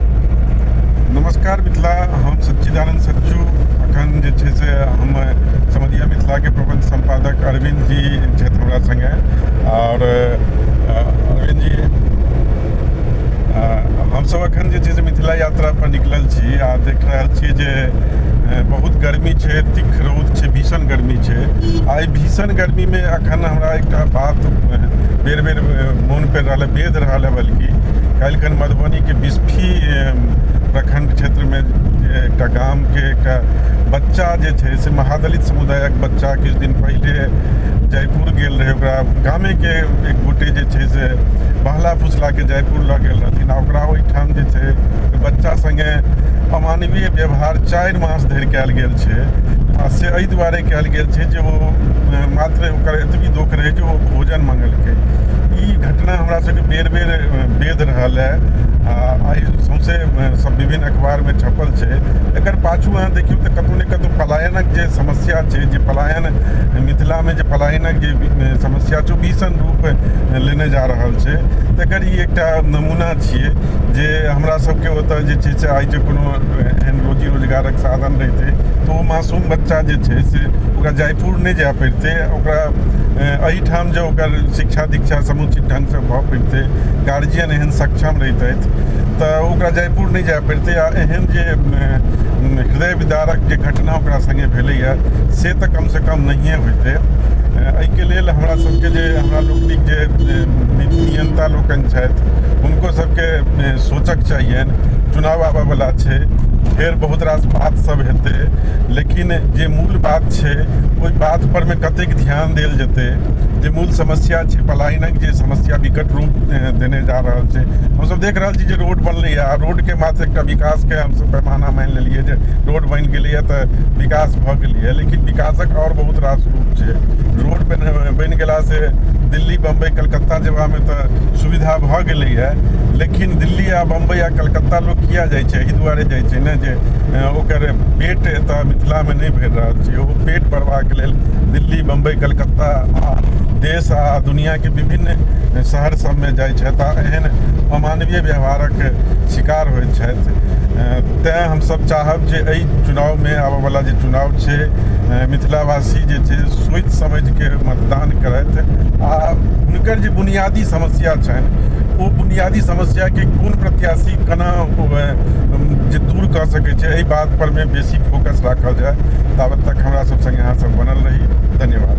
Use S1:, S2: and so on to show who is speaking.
S1: नमस्कार मिथिला हम सच्चिदानंद सच्चू अखन जे छै से हम समदिया मिथिलाके प्रबंध सम्पादक अरविंद जी छथि हमरा सङ्गे आओर अरविंद जी हमसभ अखन जे छै से मिथिला यात्रा पर निकलल छी आ देख रहल छी जे बहुत गर्मी छै तिख रौद छै भीषण गर्मी छै आ एहि भीषण गर्मीमे एखन हमरा एकटा बात बेर बेर मोन पड़ि रहल है वेध रहल है बल्कि काल्हि मधुबनीके बिस्फी प्रखंड क्षेत्रमे एकटा गामके एकटा बच्चा जे छै से महादलित समुदायक बच्चा किछु दिन पहिले जयपुर गेल रहै ओकरा गामेके एक गोटे जे छै से बहला फुसलाके जयपुर लऽ गेल रहथिन आ ओकरा ओहिठाम जे छै बच्चा सङ्गे अमानवीय व्यवहार चारि मास धरि कयल गेल छै आ से एहि दुआरे कयल गेल छै जे ओ मात्र ओकर एतबी दुःख रहै जे ओ भोजन मङ्गलकै ई घटना हमरा सबके बेर बेर वेद रहल है आ आइ सौंसे सब विभिन्न अखबारमे छपल छै एकर पाछू अहाँ देखियौ तऽ कतहु ने कतहु पलायनक जे समस्या छै जे पलायन मिथिलामे जे पलायनक जे समस्या छै ओ भीषण रूप लेने जा रहल छै तकर ई एकटा नमूना छियै जे हमरा सबके ओतऽ जे छै से आइ जे कोनो एहन रोजी रोजगारक साधन रहितै तऽ ओ मासूम बच्चा जे छै से ओकरा जयपुर नहि जाय पड़ितै ओकरा एहिठाम जे ओकर शिक्षा दीक्षा समुचित ढङ्गसँ भऽ पड़ितै गार्जियन एहन सक्षम रहितथि तऽ ओकरा जयपुर नहि जाय पड़ितै आ एहन जे हृदय विदारक जे घटना ओकरा सङ्गे भेलैए से तऽ कमसँ कम नहिए होइतै एहिके लेल हमरा सभके जे हमरा लोकनिक जे नियन्ता लोकनि छथि हुनको सभके सोचक चाहियनि चुनाव आबयवला छै फेर बहुत रास बात सब हेतै लेकिन जे मूल बात छै ओहि बात पर मे कतेक ध्यान देल जेतै जे मूल समस्या छै पलायनक जे समस्या विकट रूप देने जा रहल छै हमसब देख रहल छी जे रोड बनलैए आ रोड के मात्र एकटा विकास के हमसब पैमाना मानि लेलियै जे रोड बनि गेलैए तऽ विकास भऽ गेलैए लेकिन विकासक आओर बहुत रास रूप छै रोड बनि बनि गेला से दिल्ली बम्बई कलकत्ता जेबामे तऽ सुविधा भऽ गेलैए लेकिन दिल्ली आ बम्बई आ कलकत्ता लोक किए जाइ छै एहि दुआरे जाइ छै ने जे ओकर पेट एतऽ मिथिलामे नहि भरि रहल छै ओ पेट भरबाक लेल दिल्ली बम्बइ कलकत्ता आ देश आ दुनिआके विभिन्न शहर सबमे जाइ छथि आ एहन अमानवीय व्यवहारक शिकार होइ छथि तैँ हमसब चाहब जे एहि चुनावमे आबऽ बला जे चुनाव छै मिथिलावासी जे छै सोचि समझिके मतदान करथि आ हुनकर जे बुनियादी समस्या छनि ओ बुनियादी समस्याके कोन प्रत्याशी जे दूर कऽ सकै छै एहि बात पर मे बेसी फोकस राखल जाय ताबत तक हमरा सब संगे अहाँ सब बनल रही धन्यवाद